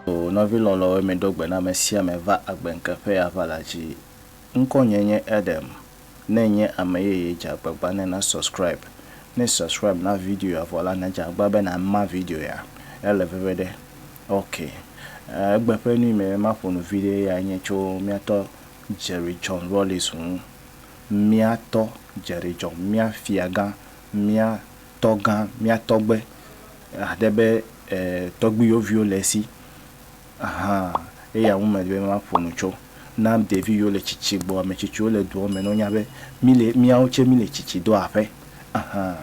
O nɔvi lɔlɔ̃wo, miɖo gbe na ame sia ame va agbe ŋke ƒe aʋa la dzi. Ŋkɔnye nye Adam. Ne ènye ame yeye, dze agbagba ne na subscribe. Ne subscribe na video ya vɔ la, nadze agbagba be nàma video ya. Ele veve ɖe? Ok. Egbe ƒe nu yi me be maƒo nu viɖe eyae nye tso míatɔ Jerry John Rawlings ŋu. mía tɔ dzeɖedzɔ, mía fiagã, mía tɔgã, mía tɔgbe, aɖe be tɔgbuiyɔviwo le esi hã. Eya ŋu medi be maƒo nu tso. Na ɖevi yiwo le tsitsi gbɔ, ame tsitsiwo le dua me ne wonya be míle, míawo tsɛ míle tsitsi do aƒe hã.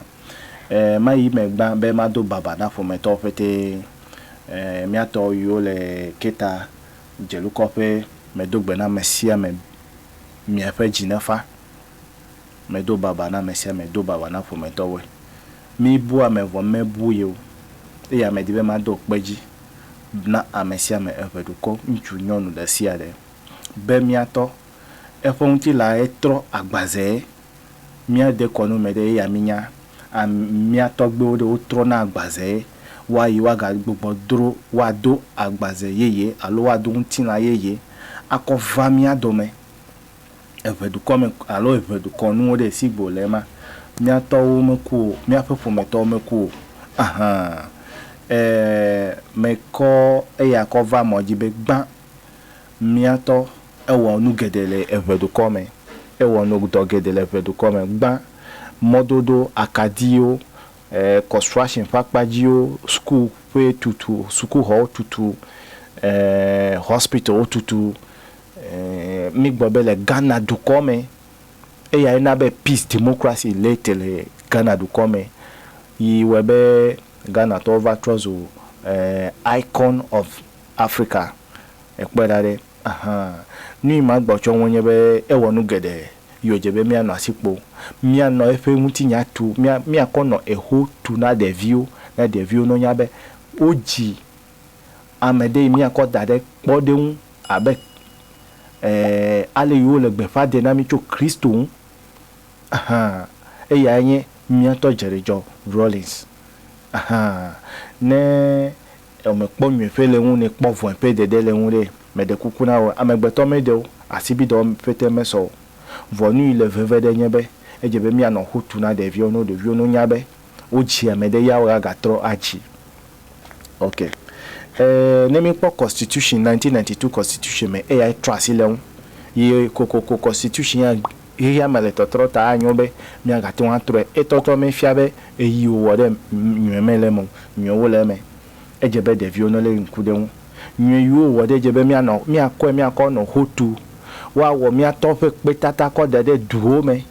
Mayi eme gbã be mado baba na ƒometɔwo ƒete. Mía tɔ yiwo le Keta dzelukɔƒe medo gbe na ame sia ame miaƒe dzi nefa. Medo baba na ame sia ame, do baba na ƒometɔwoe. Mibu ame vɔ mebu ye o, eye medi be mado kpe dzi na ame sia ame eƒe dukɔ, ŋutsu, nyɔnu, ɖe sia ɖe, be miatɔ eƒe ŋutilãe trɔ agbazee. Míade kɔ no mɛ ɖe eya mínya. A Mía tɔgbuiwo ɖe wotrɔ na agbazee wa yi woagagbugbɔ dro woado agbaze yeye alo woado ŋutilã yeye akɔ va mía dɔme eŋe dukɔ me alo eŋe dukɔ nuwo ɖe esi gbo le ema. Mía tɔwo meku o, míaƒe ƒometɔwo meku o ahan. E Mekɔ eya kɔ va mɔ dzi be gbã Mía tɔ ewɔ nu geɖe le eŋɛ dukɔ mɛ. Ewɔ nu dɔ geɖe le eŋɛ dukɔ mɛ gbã. Mɔdodo, akadiwo, construction ƒe akpadziwo, school ƒe tutu, sukuxɔwo tutu, hospital wo tutu. Mí gbɔ be le Ghana dukɔ mɛ, eya ye na be peace, democracy le te le Ghana dukɔ mɛ yi wɔɛ be Ghanatɔwo va trɔ zu icon of. Afrika. Èkpɔe ɖa ɖe? Ahan. Nuyi ma gbɔ tsɔ ŋu nye be ewɔ nu geɖe yi wòdze be míanɔ asi kpo. Míanɔ eƒe ŋutinya tu, mía, míakɔ nɔ eho tu na ɖeviwo, ne ɖeviwo no nya be wodzi ame ɖe yi míakɔ da ɖe kpɔɖeŋu abe, e, ale yi wole gbeƒã de na mí tso Kristo ŋu. Ahan. Eyae nye míatɔ Dzeɖedzɔ Rawlings. Ahan. Ne Eo me kpɔ nyuie ƒe le ŋu ne kpɔ vɔe ƒe dede le ŋu ɖe, me ɖe kuku na eo, amegbetɔ me ɖe o, asibi dɔ wɔme ƒe te me sɔ o. Vɔ nu yi le veve ɖe nye be, edze be mía nɔ ŋu tu na ɖeviwo no ɖeviwo no nya be, wo dzi ame ɖe ya wo a ga trɔ a dzi. Ok. E, ne mi kpɔ constitution, nineteen ninety two constitution me, eyae trɔ asi le ŋu. Yi kokoko constitution ya Xexea me le tɔtrɔ ta anyo be miagate ŋu atrɔe. Etɔtrɔ mefia be ɣeyiɣi wòwɔ ɖe nyɔe mele eme o, nyɔewo le eme. Edze be ɖeviwo nelé ŋku ɖe eŋu. Nyɔe yi wowɔ ɖe edze be míanɔ, míakɔe, míakɔ nɔ ho tu, woawɔ mía tɔ ƒe kpetata kɔ da ɖe duwo me.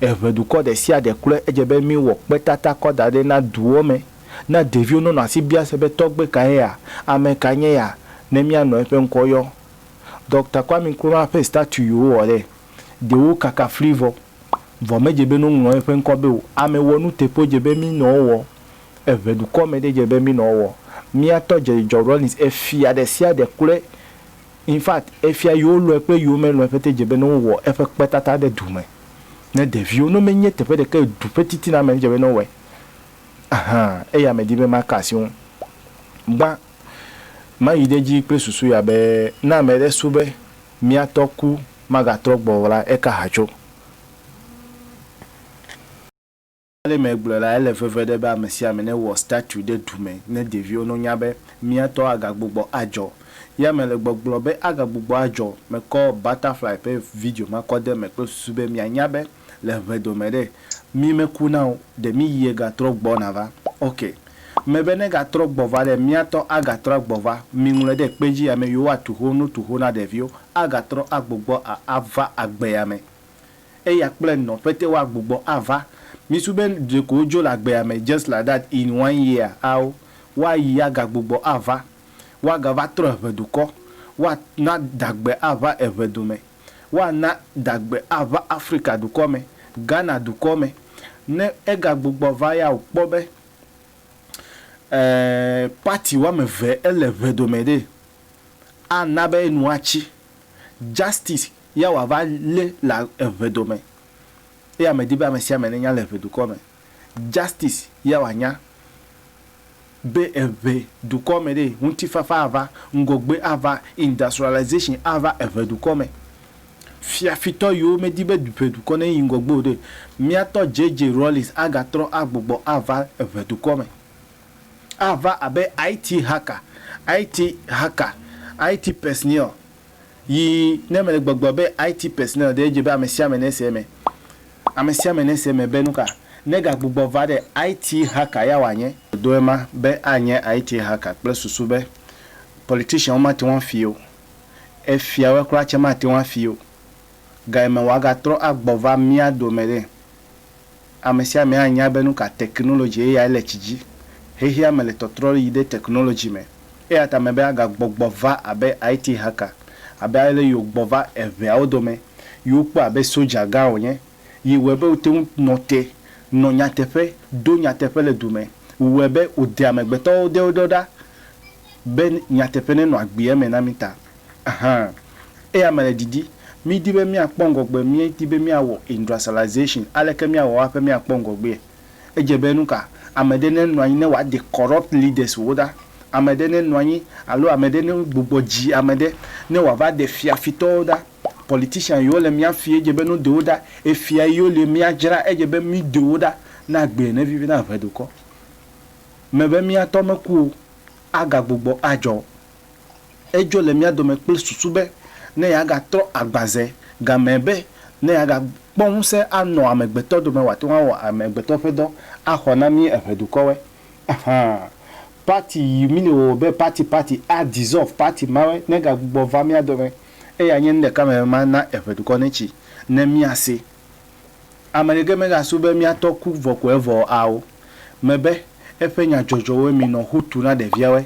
Eŋe dukɔ ɖe sia ɖe klɔe edze be míwɔ kpetata kɔ da ɖe na duwo me. Na ɖeviwo nonɔ asi bia se be tɔgbe kae ya? Ame kae nye ya? Ne míanɔ eƒe ŋkɔ yɔ. Dɔkta Kwame Nkrumah ƒe statue yi wowɔ ɖe ɖewo kaka fli vɔ, vɔ medze be no ŋlɔ eƒe ŋkɔ be o. Ame wɔ nu teƒe dze be mi nɔ wɔ, eʋe dukɔ me ɖe dze be mi nɔ wɔ. Mia tɔ dze George Rawlings efia ɖe sia ɖe kple in fact efia yi wo lɔe kple yi wo me lɔe ƒete dze be no wɔ eƒe kpetata ɖe du me ne ɖeviwo no me nye teƒe ɖeke du ƒe titina me dze be no wɔe ahan eya me di be ma ka asi wo gbã. Mayi ɖe edzi kple susu ya be ne ame aɖe srɔ̃ be mía tɔ ku magatrɔ gbɔ o la, eka ha tso. Ale megblɔe la, ele veve ɖe be ame sia ame newɔ statu ɖe du me ne ɖeviwo no nya be mía tɔ agagbugbɔ adzɔ. Ya mele gbɔgblɔ be agagbugbɔ adzɔ. Mekɔ Butterfly ƒe video ma kɔ ɖe eme kple susu be mianya be le ŋɛ dome ɖe mi me ku na o ɖe mi yie ga trɔ gbɔ na va ok me be ne ga trɔ gbɔ va ɖe mia tɔ a ga trɔ a gbɔ va mi ŋlɔe ɖe kpe dzi ame yiwo a tuho nu tuho na ɖeviwo a ga trɔ a gbo gbɔ a a va agbea me eya kple nɔ ƒete wa gbo gbɔ a va mi su be ɖeko wo dzo le agbea me just like that in one year ao wa yi a ga gbo gbɔ a va wa ga va trɔ eŋɛ dukɔ wa na dagbe a va eŋɛ dome. woana dagbe ava Afrika dukɔ me, Ghana dukɔ me. Ne egagbugbɔ va ya o kpɔ be e party woame eve ele ŋe dome ɖee, ana be enu atsi. Justice ya wòava lé le eŋe dome. Eya medi be amesiame nenya le eŋe dukɔ me. Justice ya wòanya be eŋe dukɔ me ɖee, ŋutifafa ava, ŋgɔgbe ava, industrialization ava eŋe dukɔ me. Fiafitɔ yiwo medi be eŋe dukɔ neyi ŋgɔgbe o ɖe, míatɔ JJ Rawlings agatrɔ agbugbɔ ava eŋe dukɔ me. Ava abe IT hacker, IT hacker, IT personnel yi ne mele gbɔgblɔ be IT personnel ɖe edze be amesiame nese eme. Ame sia ame nese eme be nuka negagbugbɔ va ɖe IT hacker ya wòanye. Do ema be anye IT hacker kple susu be politicianwo mate ŋu afii o, efiawe kura tsɛ mate ŋu afii o. Gayime wòagatrɔ agbɔ va mía dome ɖe? Ame sia ame anya be nuka technology eyae le tsi dzi. Xexeame le tɔtrɔ yi ɖe technology me. Eya ta mebe agagbɔgbɔ va abe IT hacker, abe ale yi wògbɔ va eŋɛawo dome yi wokpɔe abe soja gã wònye, yi wɔe be wote ŋu nɔ te, nɔ nyateƒe, do nyateƒe le du me, wɔe be wòde amegbetɔwo ɖewo ɖɔ ɖa be nyateƒe nenɔ agbi eme na mí ta. Hã, eya mele didi. Mídi be míakpɔ ŋgɔgbe, míedi be míawɔ industrialization, aleke míawɔ aƒe míakpɔ ŋgɔgbee? Edze be nuka ame ɖe ne nɔanyi ne wa de corrupt leaders wo ɖa, ame ɖe ne nɔanyi alo ame ɖe ne gbugbɔ dzi ame ɖe ne wa va de fia fitɔ wo ɖa. Politician yi wo le mia fi edze be no de wo ɖa, efia yi wo le mia dzra edze be mi de wo ɖa ne agbe ne vivi na ʋe dokɔ me be mia tɔ me ku o, aga gbugbɔ adzɔ. Edzɔ le mía dome kple susu be ne yeagatrɔ agbã ze gamee be ne yeagakpɔ ŋusẽ anɔ amegbetɔ dome wòate ŋu awɔ amegbetɔ ƒe dɔ axɔ na mí eŋe dukɔwoe. Ahan, party yi mini o be party party a dissolve party mawe negagbugbɔ va mía dome eye anye nu ɖeka me be mana eŋe dukɔ netsi ne mía si. Ame ɖeke megasu be mía tɔ ku vɔ ko evɔ ao me be eƒe nya dzɔdzɔwoe minɔ ho tu na ɖeviawoe.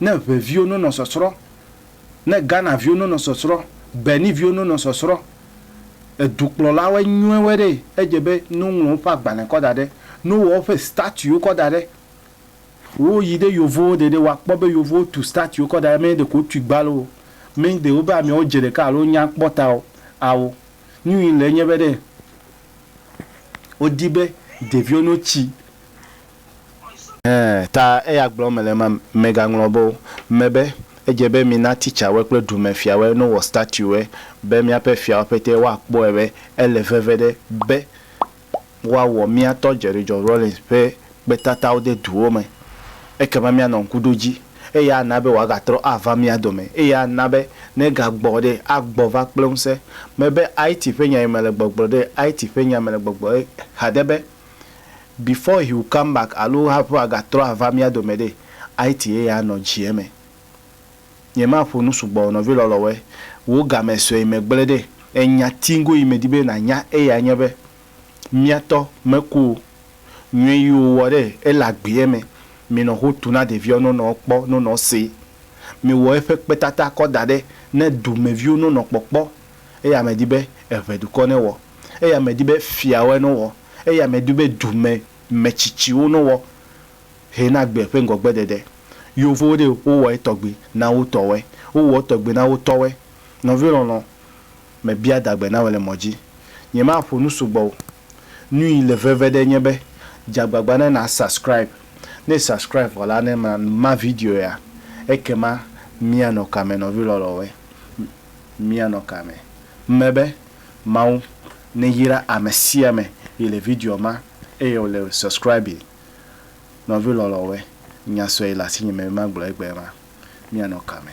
ne ŋɛ viwo no nɔ sɔsrɔ, ne Ghana viwo no nɔ sɔsrɔ, Benin viwo no nɔ sɔsrɔ, edukplɔlawɔɛ nyuiwɔɛ ɖe edze be ne wo ŋlɔ woƒe agbalẽ kɔ da ɖe, ne wo wɔ woƒe statuwo kɔ da ɖe, wo yi ɖe yovowo ɖe ɖe woa kpɔ be yovowo tu statuwo kɔ da ɖe mɛ ɖeko wo tui gba loo, mɛ ɖe wobe amɛwo dze ɖeka alo wo nya kpɔ ta o ao. Nyuie le enye be ɖe wo di be ɖeviwo no tsi Hẽ, ta eya gblɔ mele ema megaŋlɔ be o, me be, Edze be mina titsawe kple dumefiawe no wɔ statuewe, be míaƒe fiawo ƒetee woakpɔe be ele veve ɖe be woawɔ mía tɔ Jerry John Rawlings ƒe kpetatawo de duwo me. Ekema míanɔ ŋkuɖodzi, eye ana be wòagatrɔ ava mía dome, eye ana be ne egagbɔ ɖe, agbɔ va kple ŋusẽ. Mebe, Haiti ƒe nyae mele gbɔgblɔ ɖe, Haiti ƒe nya mele gbɔgblɔ ɖe xa ɖe be. Before he will come back alo haƒe agatrɔ ava mía dome ɖe, IT ye ya nɔ dzi eme. Nyemaƒo nu sugbɔ o nɔvi lɔlɔ̃woe, wò game sue yi me gblẽ ɖe. Enya tiŋgo yi medi be nànya eyae nye be, mía tɔ meku o. Nyui yi wòwɔ ɖe ele agbee me. Minɔ ho tu na ɖeviawo no nɔ kpɔ no nɔ see. Miwɔ eƒe kpetata kɔ da ɖe ne dumeviwo no nɔ kpɔkpɔ. Eya medi be eŋe dukɔ newɔ. eya medi be fiawoe newɔ, eya medi be dume metsitsiwo newɔ hɛ na gbe ƒe ŋgɔgbedede. Yeovowo ɖe wowɔ etɔgbi na wotɔwoe, wowɔ etɔgbi na wotɔwoe. Nɔvi lɔlɔ, mebia dagbe na wò le mɔ dzi. Nyemaƒo nu sugbɔ o. Nui le veve ɖe nye be dze agbagba ne na subscribe. Ne e subscribe vɔ la ne ma ma video ya. Ekema mia nɔ kame nɔvi lɔlɔwoe? Mia nɔ kame? Mme be Mawu neyra ame sia ame yi le video ma eye wòle subscribe nɔvi lɔlɔ̃wɔe nya sue yi le asinye me be magblɔ egbea ma, míanɔ kame.